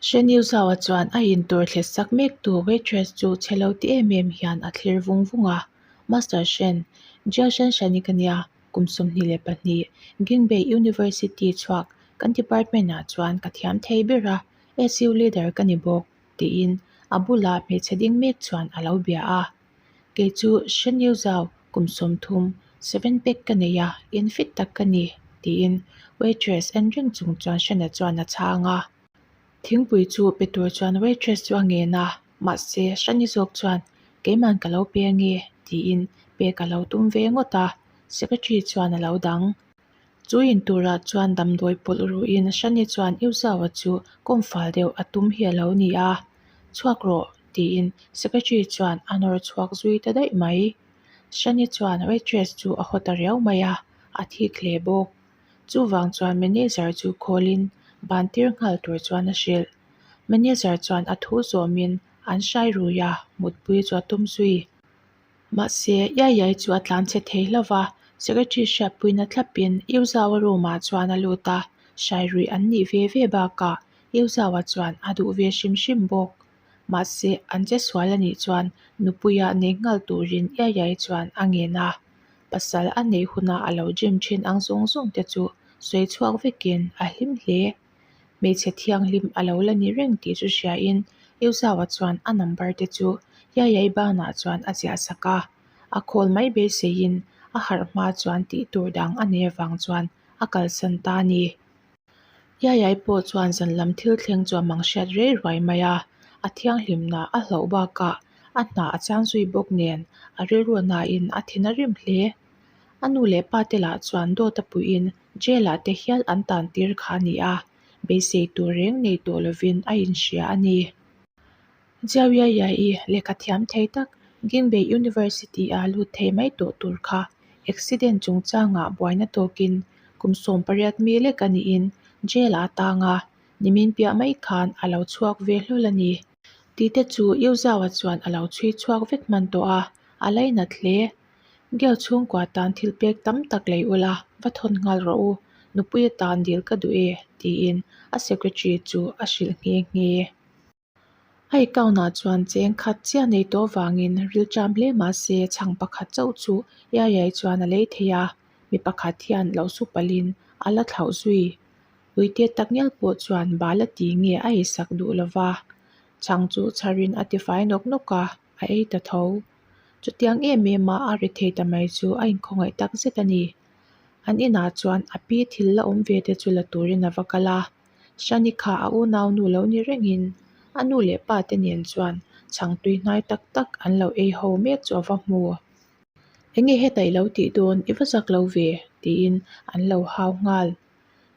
Hrenil zauah chuan a intur thlet sak mek tu waitress chu chelo ti em em hian a thlir vung vung a, Master Hren, Jia Zhanshan-i ka nia, kum sawmhnih leh pahnih, Gingbei University chhuak kan department-ah chuan ka thiam thei ber a, SU leader ka ni bawk, tiin a bulah hmeichhe ding mek chuan a lo bia a. kei chu hrenio zau kum sawm thum seven pack ka nei a en fit tak ka ni tiin waitress en reng chung chuan hrena chuan a chhang a thingpui chu pe tur chuan waitress chu a ngen a mahse hrani zawk chuan keiman ka lo peng nge tiin pek a lo tum ve ngawt a secretary chuan a lo dang. Chu in turah chuan damdawi pawlh ruhin Shani chuan Eu zau a chu kawm fal deuh a tum hi a lo ni a, chhuak rawh tiin secretary chuan a nawr chhuak zui ta daih mai. Shani chuan waitress chu a haw ta riau mai a, a thik hle bawk. Chuvang chuan manager chu khawlin bantir nghal tur chuan a hrilh. Manager chuan a thu zawmin an hrai rui a, mutpui chu a tum zui. Mahse, Yaiyai chu a tlan che thei hlo va, Secretary hriatpuina thlapin Iuzaua roomah chuan a lut a, hrairui an nih ve ve bakah Iuzaua chuan a duh ve hrim hrim bawk. Mahse, an che sual a nih chuan nupuia neih nghal turin Yaiyai chuan a ngen a, pasal a neih hunah a lo gym thin ang zawng zawng te chu sawi chhuak vekin a hlim hle. hmeichhe thianghlim a lo la nih reng tih chu hriain Euzau-a chuan a number te chu Yayai banah chuan a ziah sak a, a call mai beiseiin a harh hma chuan tih tur dang a nei avang chuan a kalsan ta a ni. Yayai pawh chuan zanlam thil thleng chu a mang hriat rei ruai mai a, a thianghlimna a hloh bakah a hna a chang zui bawk nen a rilruahnain a then a rim hle. A nu leh pa te lah chuan dawt a puiin Jail-ah te hial an tan tir kha a ni a, beisei tur reng nei tawh lovin a inhria a ni. Jiao Yaiyai-i lehkha thiam thei tak Ginbei University-ah lut thei mai tawh tur kha accident chungchangah buaina tawkin kum sawm pariat mi lek a niin jail-ah a tang a, nimin piah mai khan a lo chhuak ve hlawl a ni. Tite chu Yu Zhao-a chuan a lo chhui chhuak vek hman tawh a, a lainat hle Geo chhungkua tan thilpek tam tak lei ula va thawn nghal rawh u, nupui a tan dil ka duh e, tiin a secretary chu a hrilh nghe nghe. A account ah chuan cheng khat chiah nei tawh vangin rilṭam hle mah se chhang pakhat chauh chu Yayai chuan a lei thei a, mi pakhat hian lo su palhin a la thlauh zui. Uite tak ngial pawh chuan bala ti nge a isak duh lo va, chhang chu chharin a tifai nawk nawk a. a ei ta tho. Chutiang em em a a ri thei ta mai chu a inkhawngei tak zet a ni. An inah chuan a pi thil la awm ve te chu la turin a va kal a. Sanika a unau nu lo ni rengin a nu leh pa te nen chuan chhang tui hnai tak tak an lo ei ho mek chu a va hmu. Enge heta i lo tih dawn, i va zak lo ve, tiin an lo hau nghal.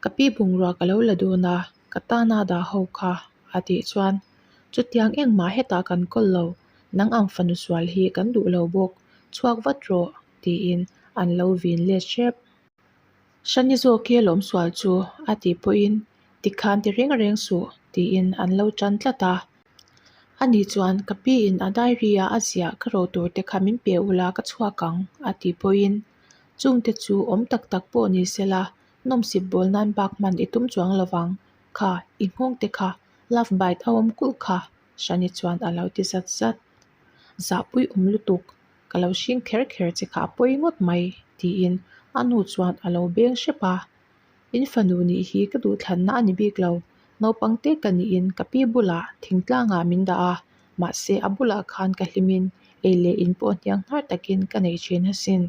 Ka pi bungrua ka lo la dun a, ka tan a dah ho kha, a tih chuan chutiang engmah hetah kan kawl lo, nang ang fanu sual hi kan duh lo bawk, chhuak vat rawh tiin an lo vin let hrep. Shani zawk e lawm sual chu, a tih pawhin tikhan ti reng reng suh tiin an lo tan tlat a. Ani chuan ka piin a diary-a a ziah ka roh tur te kha min pe ula ka chhuak ang, a tih pawhin chungte chu awm tak tak pawh ni sela nawmsip bawl nan bak hman i tum chuang lovang kha i nghawng te kha love bite a awm kulh kha hrani chuan alo ti zat zat zahpui awm lutuk ka lo hring kher kher che kha a pawi ngawt mai tiin a nu chuan alo beng hrep a. In fanu nih hi ka duhthlanna a ni bik lo. Naupang te ka niin ka pi bulah thing tlangah min dah a, mahse a bulah khan ka hlimin ei leh in pawh hniang hnar takin ka nei thin asin.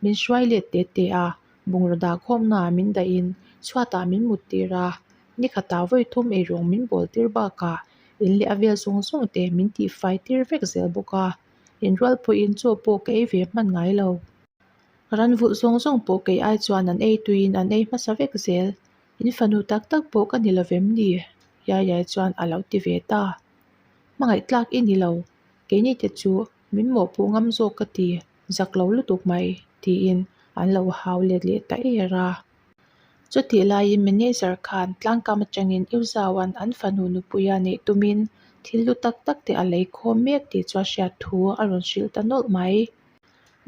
Min hruai let teh teh a, bungraw dah khawmna ah min dahin chhuatah min mut tir a. Ni khatah vawi thum ei ruang min bawl tir bakah in leh a vel zawng zawng te min tihfai tir vek zel bawk a. In rual pawhin chaw pawh ka ei ve hman ngai lo. Ran vulh zawng zawng pawh kei ai chuan an ei tuiin an ei hmasa vek zel. In fanu tak tak pawh ka ni lovem ni? Yayai chuan a lo ti ve ta. Hmangaihtlak i ni lo, keini te chu min mawhpuh ngam zawk ka ti zak lo lutuk mai, tiin an lo hau let leh ta er a. Chutih laiin manager khan tlangkam atangin Iwzaoan an fanu nupuia neih tumin thil lu tak tak te a lei khawm mek tih chu a hriat thu a rawn hrilh ta nawlh mai.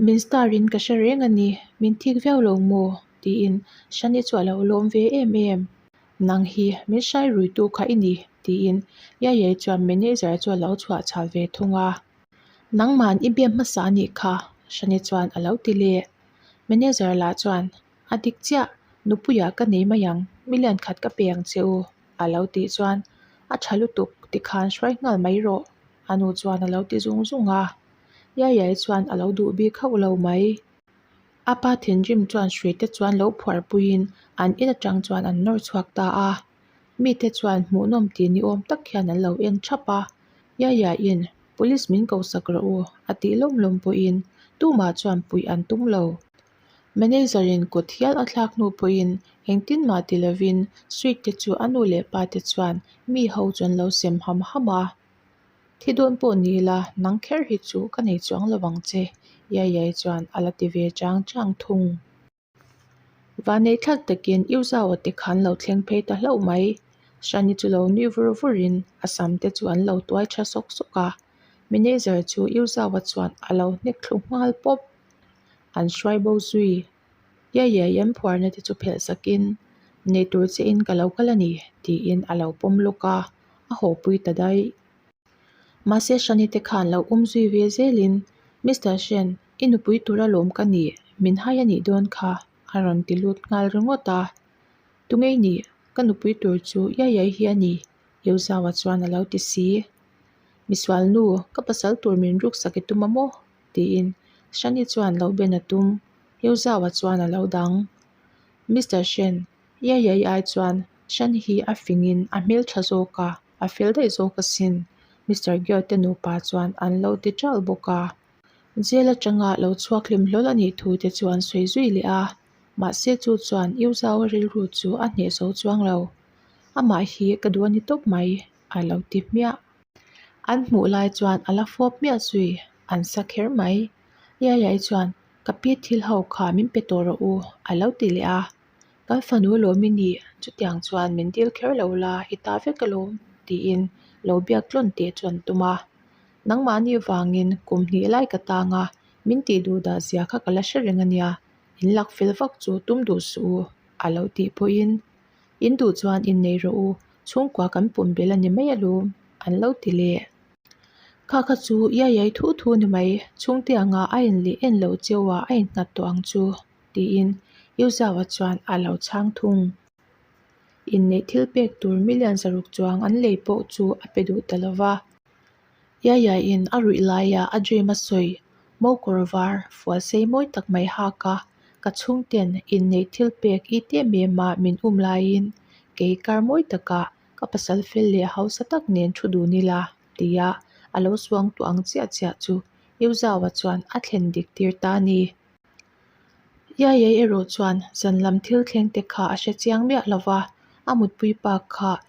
Min star in ka hre reng a ni, min thik viau lo maw? tiin Shani chu a lo lawm ve em em. Nang hi min hrai ruitu kha i ni, tiin Yaiyai chuan manager chu a lo chhuah chhal ve thung a. Nangman i biap hmasa a nih kha, Shani chuan a lo ti leh. Manager lah chuan, A dik chiah, Nupuia ka nei mai ang, million khat ka pe ang che u, a lo tih chuan, A tha lutuk, tikhan hruai nghal mai rawh, a nu chuan a lo ti zung zung a. Yayai chuan a lo duh bik hauh lo mai. A pa thinrim chuan hrui te chuan lo phuar puiin an in atang chuan an nawr chhuak ta a. Mite chuan hmuhnawm ti ni awm tak hian an lo en thap a. Yayai'n, Police min ko sak rawh u, a tih lawm lawm pawhin tumah chuan puih an tum lo. Manager-in kut hial a thlak hnu pawhin engtin mah ti lovin Sweet te chu a nu leh pa te chuan mi ho chu an lo sem ham ham a. Thi dawn pawh ni ila, nang kher hi chu ka nei chuang lo vang che. Yaiyai chuan a la ti ve chang chang thung. Vanei thlak takin iu zau a ti kha an lo thleng phei ta hlauh mai. Shani chu lo nui vur vur in a sam te chu an lo tuai tha sawk sawk a. Manager chu iu zau a chuan a lo hnek thlu nghal pawp. An hruai bo zui. Yaia yan phuarna te chu phelh sakin nei tur che in ka lo kal a ni tiin a lo pawm lawk a, a hawhpui ta daih. Mahse Shani te khan lo um zui ve zelin, Mister Shen, i nupui tura lawm ka ni, min hai a nih dawn kha, a rawn ti lut nghal ringawt a. Tungei ni, ka nupui tur chu Yaiai hi a ni, Yeu Zau-a chuan a lo ti si. Misual nu, ka pasal tur min ruksak i tum a maw? tiin Shani chuan lo ben a tum, Heu zauhah chuan a lo dang. Mister Shen, Ia ia i ai chuan Shani hi a fingin a hmel tha zawk a, a fel daih zawk asin. Mister Gyo te nupa chuan an lo ti ṭal bawk a, Jail aṭanga lo chhuak hlim hlawl a nih thu te chu an sawi zui leh a, mahse chu chuan Iuzaua rilru chu a hneh zo chuang lo. Amah hi ka duh a ni tawp mai, a lo ti hmiah. An hmuh lai chuan a la fawp miah zui, an sa kher mai. Laihlai chuan, Ka pi thil ho kha min pe tawh rawh u, a lo ti leh a. Kan fanu lawm i ni, chutiang chuan min dil kher lo la, i ta vek alawm, tiin lo biak tlawn teh chu an tum a. Nangmahni vangin kum hnih lai ka tang a, min tih duh dah zia kha ka la hre reng a nia, in lak fel vak chu tum duh suh u, a lo tih pawhin. In duh chuan in nei rawh u, chhungkua kan pawm bel a ni mai alawm, an lo ti le. Kha kha chu Yayai thu thu ni mai, chhungte anga a in lih en lo che u a, a in nghat tawh ang chu, tiin Yu Zau-a chuan a lo chhang thung. Inneih thil pek tur milian zaruk chuang an lei pawh chu a pe duh ta lo va. Yayaiin a ruih laia a dream a sawi mo kawr var fual sei mawi tak mai hak a ka chhungten in neih thil pek i te em em a min um laiin kei kar mawi taka ka pasal fel leh hausa tak nen thu dun ila tia a lo suang tawh ang chiah chiah chu Yuzau-a chuan a thlen dik tir ta ni Yayai erawh chuan zan lam thil thleng te kha a hre chiang miah lova a mutpui pa kha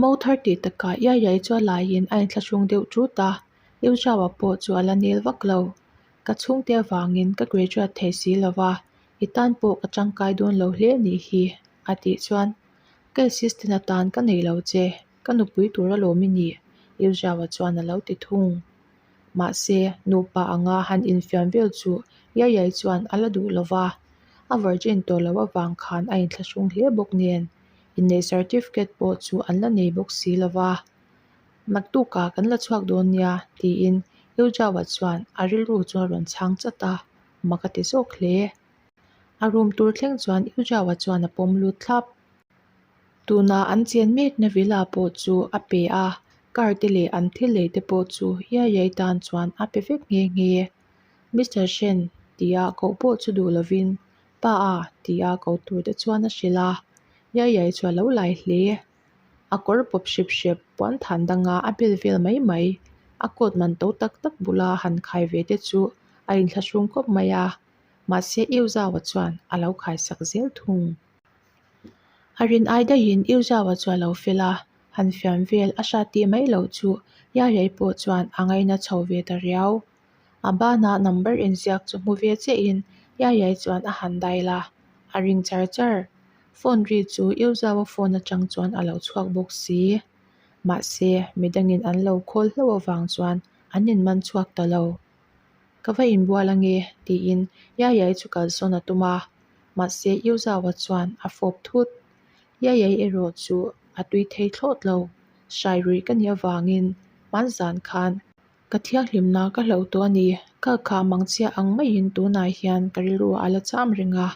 Mo thar tih takah iai iai chuan laiin a inthlahrung deuh ṭut a, Yu Zhao-a pawh chu a la nel vak lo. Ka chhungte avangin ka graduate thei si lo va, i tan pawh ka ṭangkai dawn lo hle nih hi, a tih chuan. Ka assistant atan ka neih lo che, ka nupui tur a lawm i ni, Yu Zhao-a chuan a lo ti thung. Mahse, nupa anga han infiam vel chu iai iai chuan a la duh lo va, a virgin tawh loh avang khan a inthlahrung hle bawk nen. inneih certificate pawh chu an la nei bawk si lo va, naktuk ah kan la chhuak dawn nia tiin Eujava chuan a rilru chu a rawn chhang chat a, mak a ti zawk hle. A rum tur thleng chuan Eujava chuan a pawm lut thlap. Tuna an chian mek na villa pawh chu a pe a, car te leh an thil lei te pawh chu hiai hiai tan chuan a pe vek nghe nghe. Mister Shen, tia koh pawh chu duh lovin Pa a, ti a ko tur te chuan a hrilh a, Yaiyai chu a lo lai hle a kawr pawp hrip hrip puan than dang a, a bel vel mai mai a coat man to tak tak bula han khai ve te chu a in thlahrung khawp mai a, mahse Yu Zau a chuan a lo khai sak zel thung. A rin ai daih in Yu Zau a chu a lo fel a, han fiam vel a hriat tih mai loh chu Yaiyai pawh chuan a ngaina chho ve ta riau. A banah number inziak chu hmu ve chiah in Yayai chuan a han dai la, a ring char char. Phone ri chu Yozau a phone atang chuan a lo chhuak bawk si. Mahse, midang in an lo call hlo avang chuan an in man chhuak ta lo. Ka va inbual a nge tiin Yayai chu kalsawn a tum a. Mahse, Yozau a chuan a fawp thut. Yayai erawh chu a tui thei thlawt lo. Hrai ruih ka nih avang in hman zan khan Ka thianghlimna ka hlo tawh a ni. Ka kha mang chhia ang maiin tunah hian ka rilru a la cham reng a,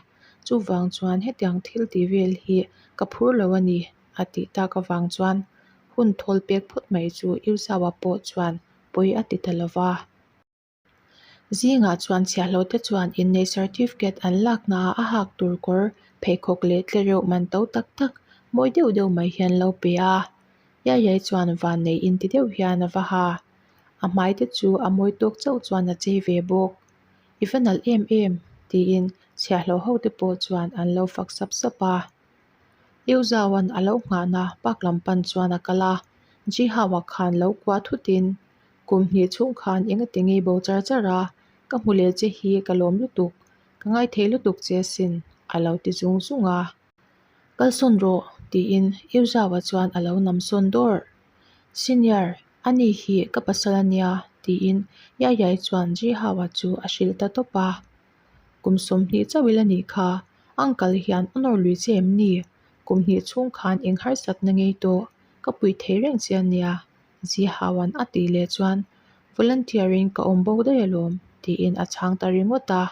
chuvang chuan hetiang thil tih vel hi ka phur lo a ni a tih tak avang chuan hun thawl pek phawt mai chu Irzawa pawh chuan pawi a ti ta lo va. Zingah chuan chhiahlote chuan inneih certificate an lak hna a hak tur kawr pheikhawk leh tlereuh man to tak tak mawi deuh deuh mai hian an lo pe a. Yaiyai chuan vannei in ti deuh hian a va ha. A hmai te chu a mawi tawk chauh chuan a chei ve bawk. I va nalh em em? tiin chhiahhlawh ho te pawh chuan an lo fak sap sap a. Liu Zao'n a lo nghah na bak lam pan chuan a kal a, Ji Hau-a khan lo kua thut in, Kum hnih chung khan enga ti ngei bo char char a, ka hmu leh che hi ka lawm lutuk, ka ngaithei lutuk che sin, a lo ti zung zung a. Kal sawn rawh, tiin Euzau-a chuan a lo nam sawn dawr. Senior, a ni hi ka pasal a nia, tiin Yaiyai chuan Zhihau-a chu a hrilh ta tawp a. Kum sawmhnih chauh ila nih kha, uncle hian a nawr lui che em ni? Kum hnih chhung khan eng harsat na ngei tawh, ka puih thei reng che a nia, Zhihau-an a tih leh chuan Volunteer-in ka awm bawk daih alawm, tiin a chhang ta ringawt a.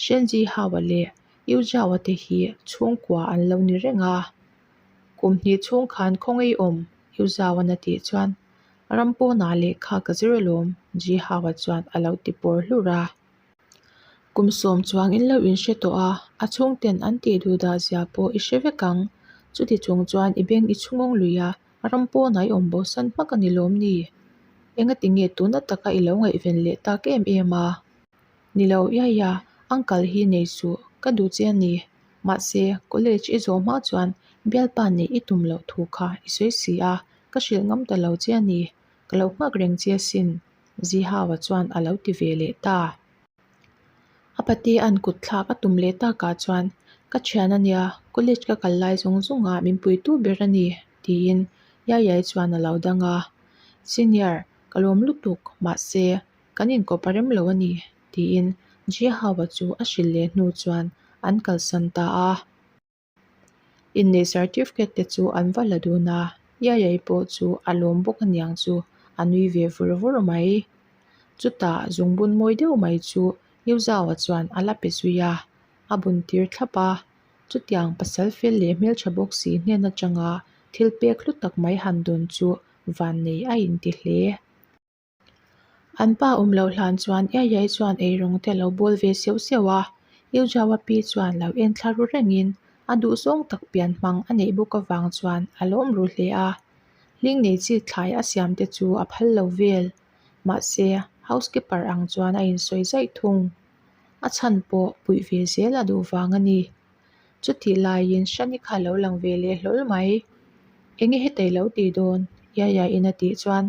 Hrian Zhihau-a leh Yu Zhaua te hi chhungkua an lo ni reng a, kum hnih chhung khan khawngei awm, Yu Zhaua-n a tih chuan. Ram pawnah lehkha ka zir alawm, Ji Hao-a chuan a lo ti pawr hlur a. Kum sawm chuang in lo inhre tawh a, a chhungte'n an tih duh dah zia pawh i hre vek ang, chuti chung chuan i beng i chhungawng lui a, ram pawnah i awm bosan hmak a ni lawm ni? Engatinge tuna taka i lo ngaihven leh tak em em a? Ni lo iai a, uncle hi nei suh ka duh che a ni. Mahse, college i zawh hma chuan bialpa nih i tum loh thu kha i sawi si a, ka hrilh ngam ta lo che a ni. Ka lo nghak reng che asin, Zihau-a chuan a lo ti ve leh ta. A pate an kut thlak a tum leh takah chuan, Ka thian a nia, college ka kal lai zawng zawngah min puitu ber a ni, tiin Yayai chuan a lo dang a. Senior, ka lawm lutuk, mahse, kan inkawpa rem lo a ni, tiin Jiahawa chu a hrilh leh hnu chuan an kalsan ta a. Inneih certificate te chu an va la dun a, Yayai pawh chu a lawm bawk a niang chu a nui ve vur vur mai. Chutah zungbun mawi deuh mai chu Liuzaua chuan a la pe zui a, a bun tir thlap a. Chutiang pasal fel leh hmeltha bawk si hnen atanga thil pek hlu tak mai han dawn chu vannei a inti hle. An pa awm loh hlan chuan Eiai chuan eirung te a lo bual ve siau siau a, Eujaua pi chuan lo en thla ru rengin a duh zawng tak pian hmang a neih bawk avang chuan a lawm ru hle a. Hling nei chi thlai a siam te chu a phal lo vel. Mahse, housekeeper ang chuan a insawi zaih thung. A chhan pawh puih ve zel a duh vang a ni. Chutih laiin Shani kha a lo lang ve leh hlawl mai. Enge hetei lo ti dawn? Eiai in a tih chuan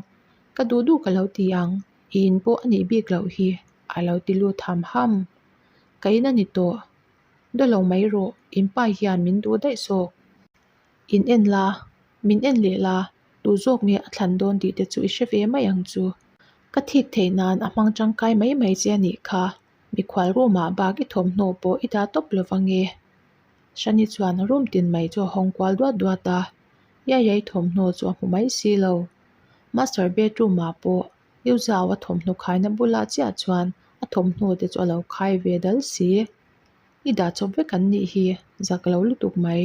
Ka duh duh ka lo ti ang, i in pawh a nih bik loh hi a lo ti lut ham ham. Ka in a ni tawh, daw lo mai rawh, in pa hian min duh daih zawk. In en la, min en leh la, duh zawk nge a thlan dawn tih te chu i hre ve mai ang chu. Ka thik theih nan a hmang tangkai mai mai che a nih kha. Mikhual rumah bak i thawmhnaw pawh i dah tawp lova nge? Shani chuan a rum tinmai chu a hawng kual duat duat a, Yaya i thawmhnaw chu a hmu mai si lo. Master bedroomah pawh Yuzao a thawmhnaw khaina bulah chiah chuan a thawmhnaw te chu a lo khai ve dal si. I dah chawp vek an nih hi, zak lo lutuk mai.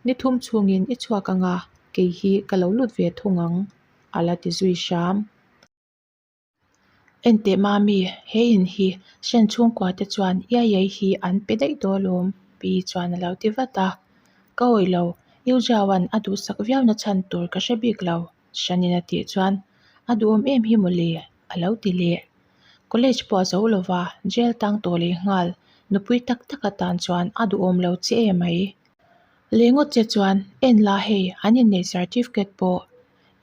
Ni thum chungin i chhuak anga kei hi ka lo lut ve thung ang, a la ti zui hram. Enteh Mami, he in hi hrian chhungkua te chuan ia iai hi an pe daih dawl awm pi chuan a lo ti vat a. Ka awih lo, Yu Zhaoan a duhsak viau na chhan tur ka hre bik lo, Shanin a tih chuan a duhawm em hi maw le? a lo ti leh. College pawh a zo lova, jail tang tawh leh nghal, nupui tak tak atan chuan a duhawm lo che e mai. Lengawt che chuan, En la hei, an inneih certificate pawh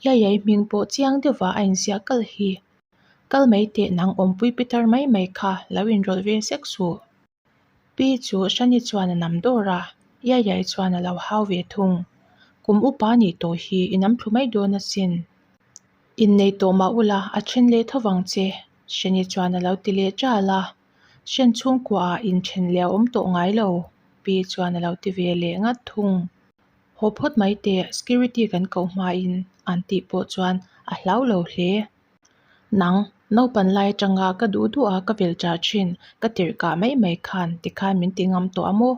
Hlaiai hming pawh chiang deuh ah a inziah kal hi kal mai teh nang awmpui pi tar mai mai kha lo inrawlh ve sek suh. Pi chu Shani chuan a nam dawr a, Hlaiai chuan a lo hau ve thung. Kum upa nih tawh hi i nam thlu mai dawn asin. Innei tawh mah ula a then leh tho vang che, Shani chuan a lo ti leh tal a. Shen chhungkua ah inthen leh a awm tawh ngai lo, Pi chuan a lo ti ve leh ngat thung. Haw phawt mai teh, security kan koh hmain an tih pawh chuan a hlau lo hle. Nang, naupan lai atanga ka duh duh a ka vel ṭah ṭhin, ka tirh kah mai mai khan tikhan min ti ngam tawh a maw?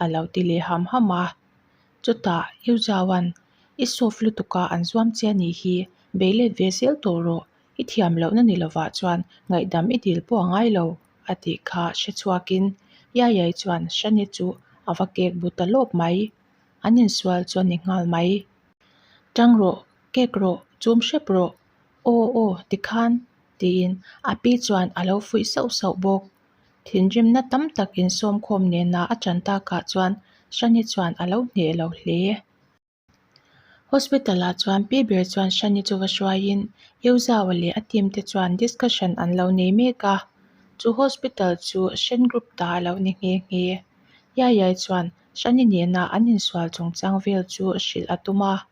a lo ti leh ham ham a. Chutah Yu Zhaoan, I soft lutuka an zuam che a nih hi, bei let ve zel tawh rawh, i thiam loh na ni lovah chuan ngaihdam i dil pawh a ngai lo, a tih kha hre chhuakin Yaiyai chuan Shani chu a va kek bu ta lawp mai. an insual chuan ni nghal mai. Tang rawh, kek rawh, chum hrep rawh, aw aw ti khan tiin a pi chuan a lo fuih sauh sauh bawk. Thinrimna tam tak in sawmkhawm nena a tan takah chuan Shani chuan a lo hneh lo hle. Hospital ah chuan pi ber chuan Shani chu va hruaiin Euzao leh a team te chuan discussion an lo nei mek a, chu hospital chu Shen group ta a lo ni nghe nghe. Yaiyai chuan Shani nena an insual chungchang vel chu hrilh a tum a,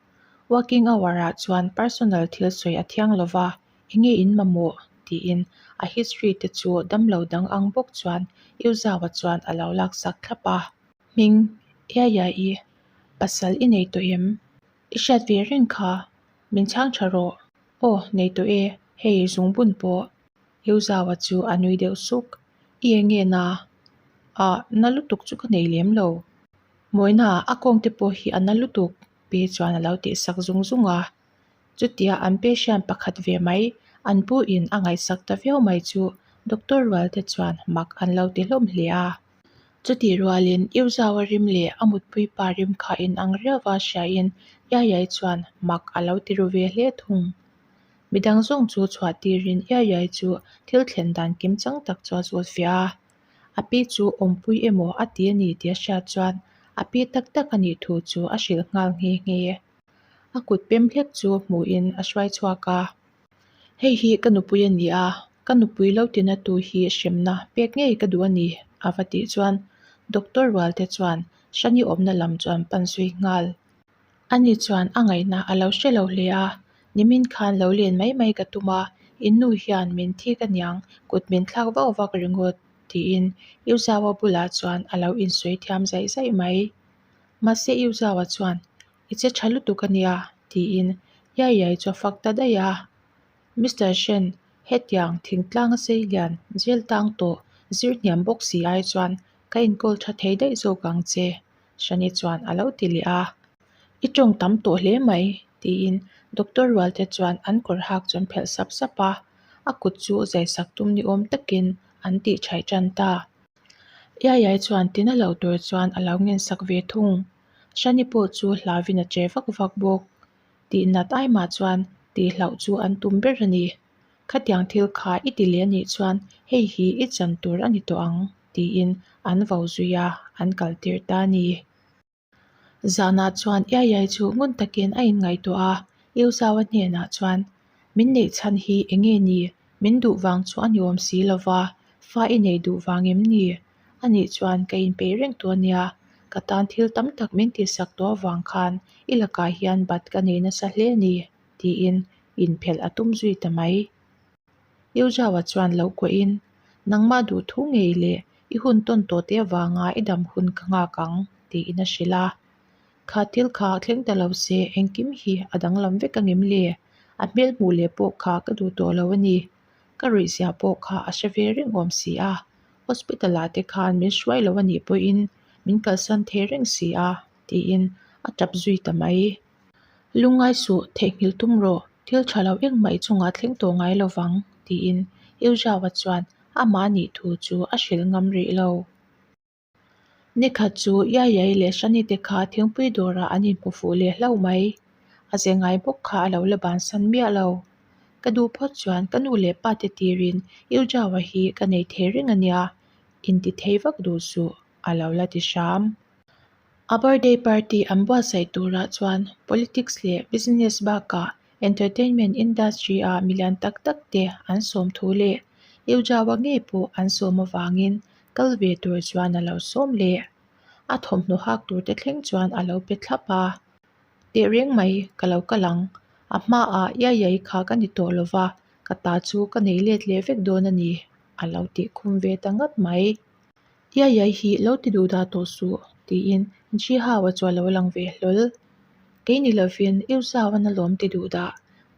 Working hour-ah chuan personal thil sawi a thiang lo va, enge in mamawh? tiin a history te chu damlo dang ang bawk chuan Yu Zhao-a chuan a lo laksak thlap a. Hming, Yaya i pasal i nei tawh em? I hriat ve reng kha, min chhang tha rawh. Aw, nei tawh e, hei zungbun pawh. Lo zauva chu a nui deuh suk. I eng nge na? A na lutuk chu ka nei lem lo. Mawina a kawng te pawh hi a na lutuk pe chuan a lo tih sak zung zung a. Chutia an pe hriam pakhat ve mai an pu in a ngaihsak ta viau mai chu doctor rual te chuan mak an lo ti hlawm hle a. Chutih rual in I zauva rim leh a mutpui pa rim kha in ang riau va hria in Yayai chuan mak a lo ti ru ve hle thung. Midang zawng chu chhuah tirin iai iai chu thil thlen dan kim chang tak chu a zawt fiah a. A pi chu awmpui emaw a ti a ni tih a hriat chuan a pi tak tak a nih thu chu a hrilh nghal nghe nghe e. A kut pem hlek chu hmuhin a hruai chhuak a, Hei hi ka nupui a ni a, ka nupui lo ti na tu hi hremna pek ngei ka duh a ni, a va tih chuan Doctor Rualte chuan Shani awmna lam chu an pan zui nghal. Ani chuan a ngaihna a lo hre lo hle a, Nimin khan lo len mai mai ka tum a, Innu hian min thi ka niang, kut min thlak vau vak ringawt, tiin U Zau a bulah chuan a lo insawi thiam zaih zaih mai. Mahse U Zau a chuan, I che tha lutuk a nia, tiin Yaiyai chu a fak ta daih a. Mister Hren, hetiang thingtlanga sei lian zir tang tawh, zir hniam bawk si ai chuan ka inkawl tha thei daih zawk ang che. Shani chuan a lo ti leh a, I tawng tam tawh hle mai, tiin Doctor Rualte chuan an kawr hak chuan phelh sap sap a, a kut chu zai sak tum ni awm takin an tih chhaih tan ta. Yayai chuan tina lo tur chuan a lo nghen sak ve thung. Shani pawh chu hlavin a che vak vak bawk. Tih nat ai mah chuan tih hlauh chu an tum ber a ni. Khatiang thil kha i ti leh anih chuan hei hi i chan tur a ni tawh ang tiin an vo zui a, an kal tir ta a ni. Zanah chuan Iaiyai chu ngun takin a inngaihtuah a, Iuzaua hnenah chuan, Min neih chhan hi eng nge ni? Min duh vang chu a ni awm si lo va, fa i neih duh vang em ni? A nih chuan ka inpeih reng tu a nia, ka tan thil tam tak min tihsak tawh avang khan i lakah hian bat ka nei nasa hle a ni. tiin inphelh a tum zui ta mai. Eujava chuan lo kuahin, Nangmah duh thu ngei leh i hun tawn tawh te avanga i dam hun ka nghak ang, tiin a hrilh a. Kha thil kha a thleng ta lo se, engkim hi a danglam vek angem le? A hmel hmuh leh pawh kha ka duh tawh lo a ni. Ka ruih ziah pawh kha a hre ve reng awm si a. Hospital ah te khan min hruai lo a nih pawhin min kalsan thei reng si a, tiin a tap zui ta mai. Lungai suh theihnghilh tum rawh, thil tha lo eng mai chungah thleng tawh ngai lo vang, tiin Euziao-a chuan a mahni thu chu a hrilh ngam rih lo. Nikhat chu Yaiyai leh Sanite kha thingpui dawrah an inhmu fuh leh hlo mai. A ze ngai bawk kha a lo la bansan miah lo. Ka duh phawt chuan ka nu leh pate tirin Euziao-a hi ka nei thei reng a nia, inti thei vak duh suh, a lo la ti hram. A birthday party an buatsaih turah chuan politics leh business bakah entertainment industry ah milian tak tak te an sawm thu leh Eujaua ngei pawh an sawm avangin kal ve tur chuan a lo sawm leh a thawmhnaw hak tur te thleng chuan a lo pe thlap a, teh reng mai ka lo kal ang, a hmaah Iaiyai kha ka ni tawh lo va, ka ta chu ka nei let leh vek dawn a ni, a lo ti khum ve ta ngat mai. Yayai hi lo ti duh dah tawh suh, tiin Ji Hau-a chu a lo lang ve hlawl. Kei ni lovin U Zau-a na lawm ti duh dah?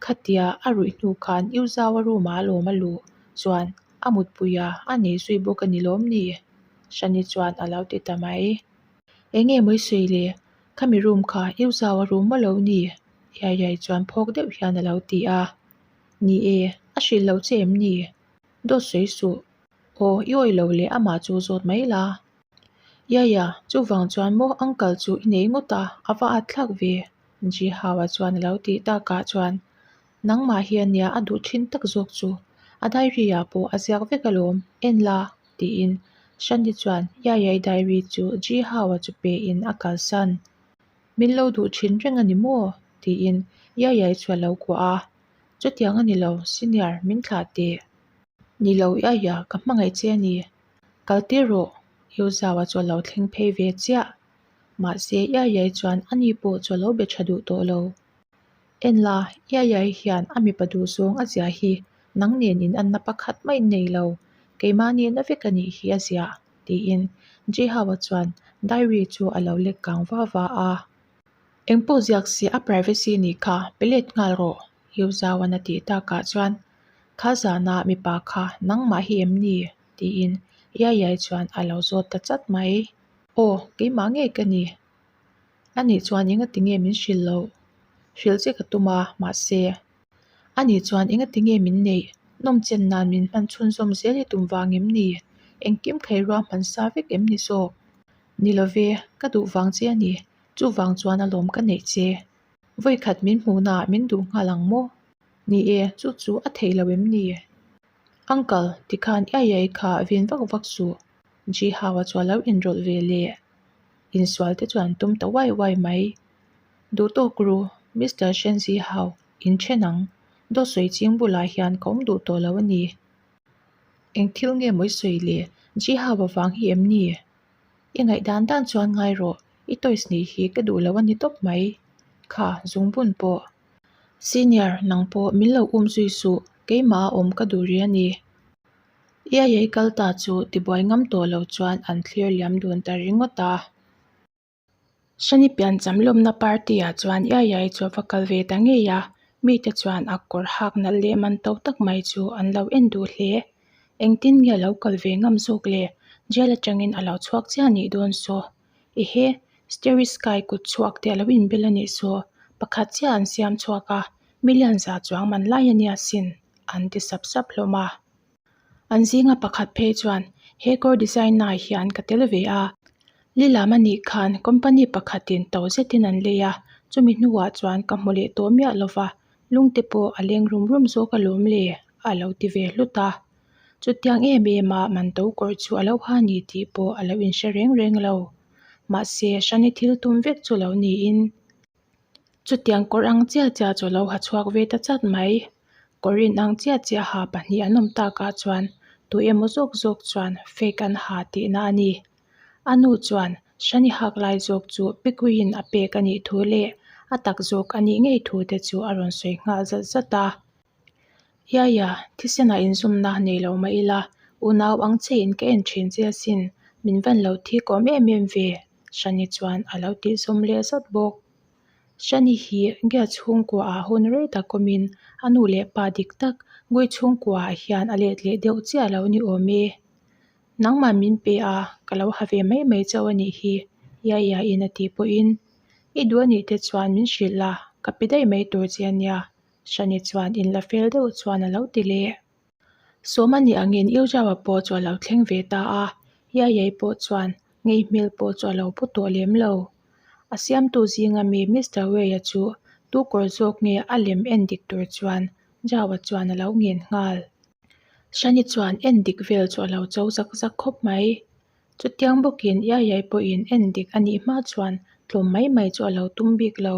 Khatia a ruih hnu khan U Zau-a room-ah a lawm a luh chuan a mutpui a, a nei zui bawk a ni lawm ni? Shani chuan a lo ti ta mai. Eng nge mawi sawi le, khami room kha U Zau-a room maw lo ni? Yayai chuan phawk deuh hian a lo ti a. Ni e, a hrilh loh che em ni? Dawt sawi suh, Aw, i awih lo le, amah chu zawt mai la. Yaya, chuvang chuan maw uncle chu i nei ngawt a, a va at thlak ve. Zihau-a chuan a lo tih takah chuan, Nangmah hian nia a duh thin tak zawk chu, a diary-ah pawh a ziak vek alawm, en la? tiin Shanti chuan Yaya-i diary chu Zihau-a chu pe in a kalsan. Min lo duh thin reng a ni maw? tiin Yaya-i chu a lo kuah a, Chutiang a ni lo, senior, min thlah teh. Ni lo i aia ka hmangaih che a ni. Kal tir rawh, i u zau a chawlh lo thleng phei ve chiah. Mahse, i aiai chuan ani pawh chawlh lo be tha duh tawh lo. En la, i aiai hian a mipa duh zawng a zia hi nang nen inanna pakhat mai nei lo, keimah nihna vek a nih hi a zia, tiin Jihau-a chuan diary chu a lo lek kang va va a. Eng pawh ziak si a privacy a nih kha, pe let nghal rawh heu zau an a tih tak ah chuan kha zan a mipa kha nang mah hi em ni? tiin Iaiyai chuan a lo zawt ta chat mai. Aw keimah nge ka ni? Ani chuan enga ti nge min hrilh loh? Hrilh che ka tum a mahse Ani chuan enga ti nge min neih? Nawm chen nan min hman chhun zawm zel hi tum vang em ni? Engkim khairua hman sa vek em ni zawk? Ni love ka duh vang che a ni Chuvang chuan a lawm ka neih che. Vawikhat min hmuh naah min duh nghal ang maw? Ni e, chu chu a theihlo em ni? Uncle, tikhan ai ai kha vin vak vak suh. Ji Hau-a chuan lo inrawlh ve leh insual te chuan an tum ta uai uai mai. Duhtawk ru, Mister Shen Ji Hau, in ṭhen ang. Dawhsawi ching bulah hian ka awm duh tawh lo a ni. Eng thil nge mawi sawi le? Ji Hau-a vang hi em ni? I ngaih dan dan chuan ngai rawh, i toys nih hi ka duh loh a ni tawp mai kha, Zungbun pawh. Senior, nang pawh min lo um zui suh, keimah a awm ka duh rih a ni. I a ei kal ta chu tibuai ngam tawh lo chuan an thlir liam dun ta ringawt a. Sanipian Chamlawmna Party-a chuan iai iai chu a va kal ve ta ngei a, mite chuan a kawr hak nalh leh man to tak mai chu an lo en duh hle. Engtin nge a lo kal ve ngam zawk le? Jail atangin a lo chhuak chiah a nih dawn saw. Ehe, Starry Sky kut chhuak te a lo in bel a nih saw. Pakhat chiaha an siam chhuak a, milian za chuang man lai a nia sin, an ti sap sap hlawm a. An zinga pakhat phei chuan, He kawr design nai hian ka tel ve a, Lilam anih khan company pakhatin to zetin an lei a, chumi hnuah chuan ka hmu leh tawh miah lo va, lungte pawh a leng rum rum zawk alawm le, a lo ti ve hlut a. Chutiang em em a man to kawr chu a lo ha ni tih pawh a lo inhre reng reng lo. Mahse, Shani thil tum vek chu lo niin, Chutiang kawr ang chiah chiah chu lo ha chhuak ve ta chat mai, kawr in ang chiah chiah ha pahnih an awm tak ah chuan tui emaw zawk zawk chuan fake an ha teh na a ni. A nu chuan hre ni hak lai zawk chu pekawih in a pek a nih thu leh a tak zawk a nih ngei thu te chu a rawn sawi nghal zat zat a. Yaya, thisenah inzumna a nei lo mah ila, unau ang che in ka en thin che asin, min van lo thik awm em em ve? Shani chuan a lo tihzawm leh zat bawk. Shani hi gate chhungkua ah hun rei tak awm in a nu leh pa dik tak gate chhungkua ah hian a let leh deuh chiah lo ni awm e. Nangmah min pe a, ka lo ha ve mai mai chauh a nih hi, Yaya in a tih pawh in, I duh a nih te chuan min hrilh la, ka pe daih mai tur che a nia. Shani chuan in la fel deuh chuan a lo ti leh. Sawma nih a ngen iau zauha pawh chu a lo thleng ve ta a, Yaiyai pawh chuan ngei hmel pawh chu a lo pu tawh lem lo. A siamtu zinga mi Mister Wei-a chu tu kawr zawk nge a lem en dik tur chuan zauha chuan a lo ngen nghal. Shani chuan en dik vel chu a lo cho zak zak khawp mai. Chutiang bawkin Yaiyai pawhin en dik a nih hma chuan tlawm mai mai chu a lo tum bik lo.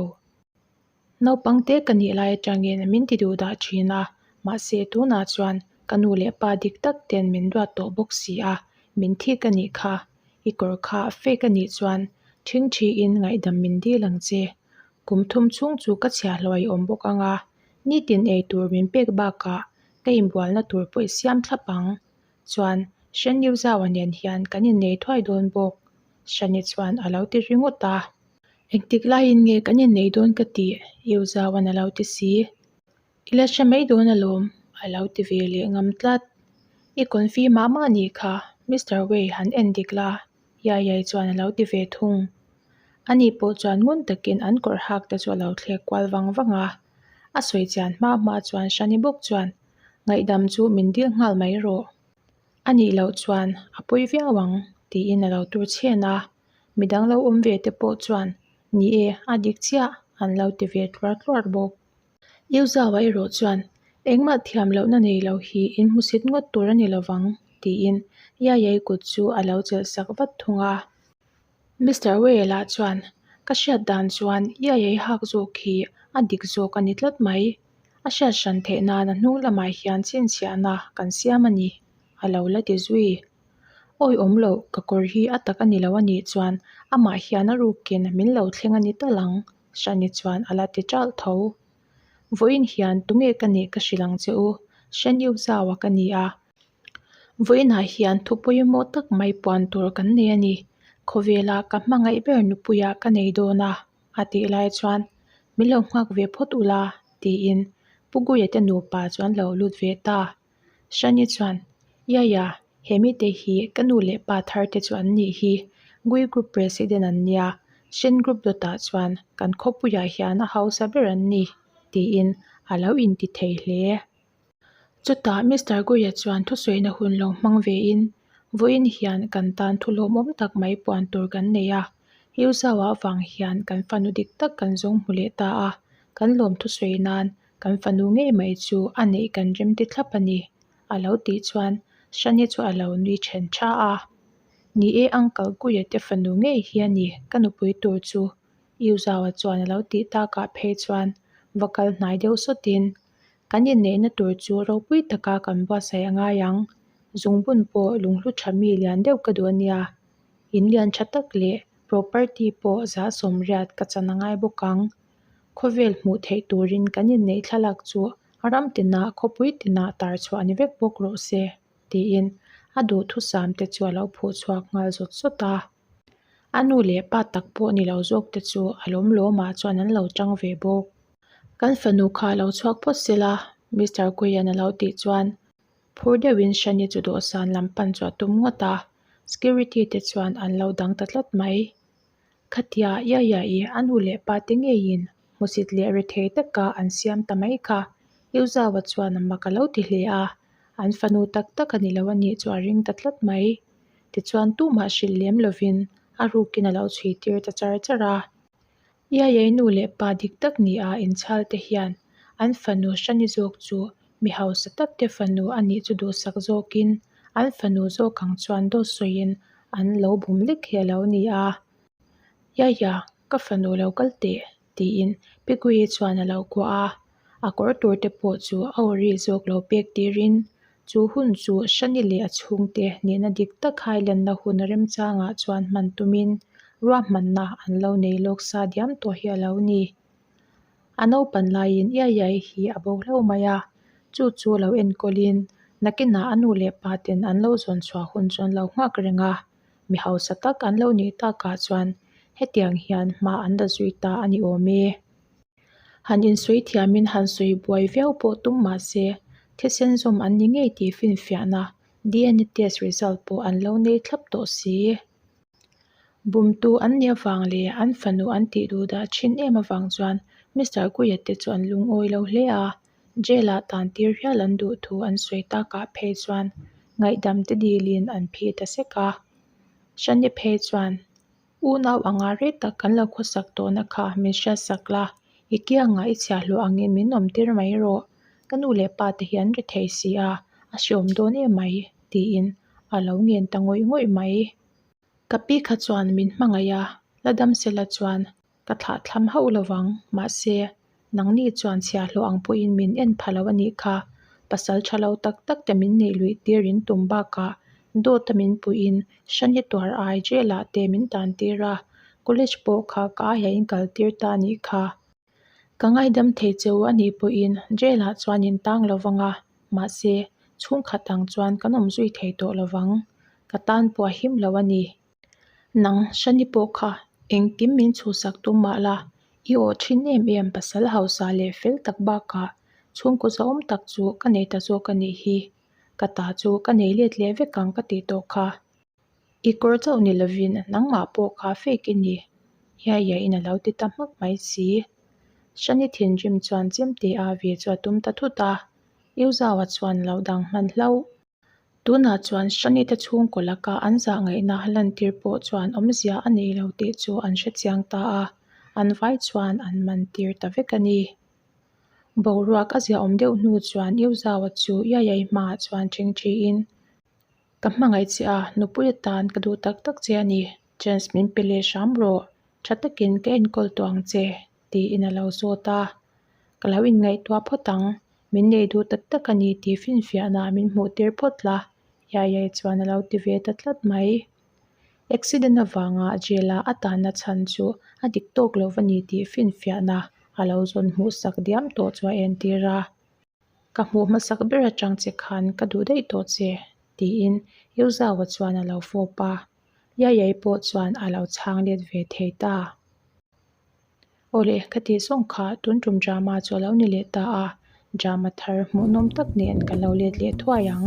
Naupangte ka nih lai atangin min ti duh dah thin a, mahse tunah chuan ka nu leh pa dik tak ten min duat tawh bawk si a, min thik a nih kha, i kawr kha a fake a nih chuan thing thi in ngaihdam min dil ang che. Kum thum chhung chu ka chhia hlawh a i awm bawk ang a, nitin ei tur min pek bakah ka inbualna tur pawh i siam thlap ang. chuan Hrendiu zau a nen hian kan innei thuai dawn bawk, Hrani chuan a lo ti ringawt a. Engtik laiin nge kan innei dawn ka tih, Iu zauan a lo ti si. I la hre mai dawn alawm, a lo ti ve leh ngam tlat. I konfimah mah nih kha, Mister Wei han en dik la, Yaiyai chuan a lo ti ve thung. A ni pawh chuan ngun takin an kawrh hak te chu a lo thlek kual vang vang a. A sawi chian hma hma chuan Shani bawk chuan, Ngaihdam chu min dil nghal mai rawh. A nih loh chuan a pawi viau ang, tiin a lo tur chhian a. Midang lo awm ve te pawh chuan, Ni e, a dik chiah, an lo ti ve tluar tluar bawk. Yu Zhaoa erawh chuan, Engmah thiam lohna nei lo hi in hmu sit ngawt tur a ni lovang, tiin Yaiyai kut chu a lo chelhsak vat thung a. Mister Wei lah chuan, Ka hriat dan chuan Yaiyai hak zawk hi a dik zawk a ni tlat mai. A hriat hran theih nan a hnung lamah hian chhinchhiahna kan siam a ni, a lo la ti zui. Awi awm loh, ka kawr hi a tak a ni lo a nih chuan amah hian a ruk kin min lo thleng a ni tal ang. Shani chuan a la ti ṭalh tho. Vawiin hian tunge ka nih ka hrilh ang che u, Shani u zau a ka ni a. Vawiinah hian thu pawimawh tak mai puan tur kan nei a ni. Khawvela ka hmangaih ber nupuia ka nei dawn a, a tih lai chuan min lo nghak ve phawt ula tiin Pu Guia te nupa chuan lo lut ve ta. Shani chuan, Yaya, he mite hi ka nu leh pa thar te chu an nih hi. Gui group president an nia, Shen group dawtah chuan kan khawpuiah hian a hausa ber an ni, tiin a lo inti thei hle e. Chutah Mister Guia chuan thusawiin a hun lo hmang ve in, Vawiin hian kan tan thu lawmawm tak mai puan tur kan nei a, Yu zau ah vang hian kan fanu dik tak kan zawng hmu leh ta a, kan lawm thusawi nan Kan fanu ngei mai chu a neih kan remti thlap a ni, a lo tih chuan Shani chu a lo nui ṭhen ṭha a, Ni e, uncle Guia te fanu ngei hi a ni, ka nupui tur chu. Yu Zaua chuan a lo tih takah phei chuan va kal hnai deuh sawt in, Kan inneihna tur chu ropui taka kan buatsaih a ngai ang, zungbun pawh lunghlu ṭha mi lian deuh ka duh a nia, in lian ṭha tak leh property pawh zah sawmriat ka chan a ngai bawk ang. Khawvel hmuh theih turin kan inneih thlalak chu ram tinah, khawpui tinah tar chhuah ni vek bawk rawh se, tiin a duhthusam te chu a lo phuh chhuak nghal zawt zawt a. A nu leh pa tak pawh ni lo zawk te chu a lawm lawmah chuan an lo ṭang ve bawk. Kan fanu kha a lo chhuak phawt se la, Mister Kuiyan a lo tih chuan phur deuhin Shani chu dawhsan lam pan chu a tum ngawt a. Security te chuan an lo dang ta tlat mai. Khatia ia ia i an u leh pa te ngeiin hmusit leh rethei taka an siam ta mai kha. Yu Zau-a chuan a mak a lo ti hle a, an fanu tak tak a ni lo a nih chu a ring ta tlat mai. Tichuan tumah hrilh lem lovin a rukin a lo chhui tir ta char char a. Ia ia i nu leh pa dik tak nia inchhal te hian an fanu Shani zawk chu mi hausa tak te fanu a nih chu duhsak zawkin an fanu zawk ang chuan daw sawiin an lo bum lek hi a lo ni a, Yaya ka fanu lo kal teh tiin Pigui chuan a lo kuah a, a kawr tur te pawh chu a awri zawk lo pek tirin chu hun chu Shani leh a chhung te nihna dik tak khai lanna hun remchangah chuan hman tumin ruahmanna an lo nei lawk sa diam tawh hi a lo ni. A naupan laiin ia ia i hi a bo hlauh mai a, chu chu lo enkawl-in nakinah a nu leh pa ten an lo zawn chhuah hun chuan lo nghak reng a, mi hausa tak an lo nih takah chuan hetiang hian hma an la zui ta a ni awm e. Han insawi thiamin han sawi buai viau pawh tum mah se, thisen zawm an ni ngei tih finfiahna DNA test result pawh an lo nei thlap tawh si. Bumtu an nih avang leh an fanu an tih duh dah thin em avang chuan Mister Kuiyat te chu an lungawi lo hle a. Jail-ah tan tir hial an duh thu an sawi takah phei chuan ngaihdam te dilin an phih ta sek a. Shane phei chuan, Unau anga ret tak kan lo khawsak tawhna kha min hriat sak la, i kiangah i chhiahhlawh angin min awm tir mai rawh. Ka nu leh pa te hi an rethei si a, a hreawm dawn emai, tiin a lo nghen ta ngawih ngawih mai. Ka pi kha chuan min hmangaih a, la dam se la chuan ka thlah thlam hauh lo vang, mahse, nangni chuan chhia hlawh ang pawh in min en pha lo a nih kha, pasal tha lo tak tak te min neih luih tir in tum bak ah dawt a min puih in Shani tuar ai zel ah te min tan tir a, college pawh kha ka aiah in kal tir ta a nih kha. Ka ngaidam thei che u a nih pawhin Jail-ah chuan in tang lo vang a, mahse, chhungkhat ang chuan kan awm zui thei tawh lo vang. Ka tan pawh a him lo a ni. Nang, Shani pawh kha engtim min chhuhsak tum mah la, i awh thin em em pasal hausa leh fel tak bakah chhungkaw zahawm tak chu ka nei ta zawk a nih hi. Ka ta chu ka nei let leh vek ang ka tih tawh kha. I kawr chauh ni lovin nangmah pawh ka fake i ni hiai hiai in alo ti ta hmak mai si. Shani thinrim chuan chem te a ve chu a tum ta thut a, eu zau a chuan lo dang hman hlauh. Tunah chuan Shani te chhungkaw laka an zahngaihna a lantir pawh chuan awmzia a nei lo tih chu an hre chiang ta a, an vai chuan an man tir ta vek a ni. Boruak a ziaawm deuh hnu chuan eu zau a chu Iaiyai hmaah chuan thingthi in Ka hmangaih che a, nupui atan ka duh tak tak che a ni. Chance min pe leh hram rawh, tha takin ka enkawl tawh ang che, tiin a lo zawt a. Ka lo inngaihtuah phawt ang, min nei duh tak tak a ni tih finfiahnah min hmuh tir phawt la, Yayai chuan a lo ti ve ta tlat mai. Accident avanga jail-a a tanna chhan chu a dik tawk lo va ni tih finfiahnah a lo zawn hmuh sak diam tawh chu a en tir a. Ka hmuh hmasak ber atang che khan ka duh daih tawh che, tiin Yozau-a chuan a lo fawp a, Yayai pawh chuan a lo chhang let ve thei ta. Aw le, ka tih zawng kha, tun tum drama chu a lo ni leh ta a, drama thar hmuhnawm tak nen ka lo let leh thuai ang.